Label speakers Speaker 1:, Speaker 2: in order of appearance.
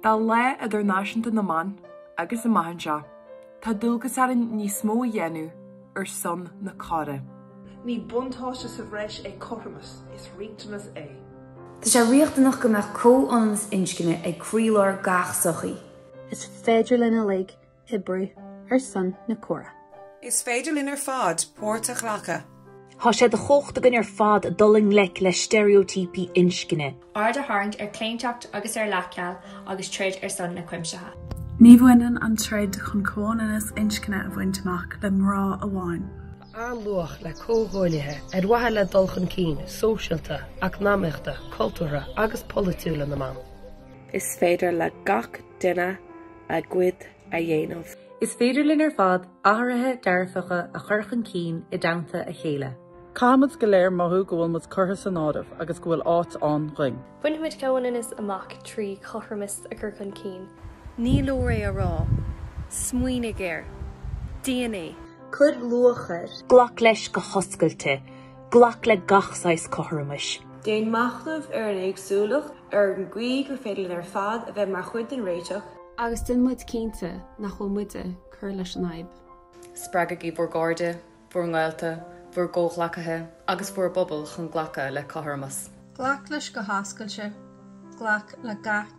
Speaker 1: Tá Lá Idirnáisiúnta na mBan agus amach anseo tá dualgas orainn níos mó a dhéanamh ar son na córa. Ní
Speaker 2: buntáiste sa bhreis é cothromas, is riachtanas é. Tá sé
Speaker 3: riachtanach go mbeadh comhionannas inscne ag croílár gach sochaí. Is féidir
Speaker 4: linn uilig oibriú ar son na córa. Is féidir linn
Speaker 5: ar fad páirt a ghlacadh. Tá sé de
Speaker 6: chumhacht againn ar fad dul i ngleic le steiréotíopaí inscne. Aird a tharraingt ar
Speaker 7: chlaontacht agus ar leathcheal agus troid ar son na cuimsithe. Ní bhaineann
Speaker 8: an troid chun comhionannas inscne a bhaint amach le mná amháin. Tá an-luach
Speaker 9: le comhghuaillithe ar mhaithe le dul chun cinn sóisialta, eacnamaíochta, cultúrtha agus polaitiúla na mban. Is féidir
Speaker 10: le gach duine a gcuid a dhéanamh. Is féidir linn
Speaker 11: ar fad athruithe dearfacha a chur chun cinn i dteannta a chéile. Caithfidh muid go léir
Speaker 12: mothú go bhfuil muid curtha san áireamh agus go bhfuil áit ann dhuinn. Bainfimid
Speaker 13: comhionannas amach trí chothromas a chur chun cinn. Ní leor
Speaker 14: é a rá. Smaoinigh air. Déan é. Cuir
Speaker 3: luach air. Glac leis go
Speaker 6: hoscailte. Glac le gach saghas cothromais. Déan
Speaker 15: machnamh ar an éagsúlacht, ar an gcaoi gur féidir linn ar fad a bheith mar chuid den réiteach. Agus déan muid
Speaker 4: cinnte nach bhfuil muid ag cur leis an fhadhb. Spreagaigí
Speaker 16: bhur gcairde, bhur ngaolta, bhur gcomhghleacaithe agus bhur bpobail chun glacadh le cothromas. Glac leis go
Speaker 17: hoscailte. Glac le gach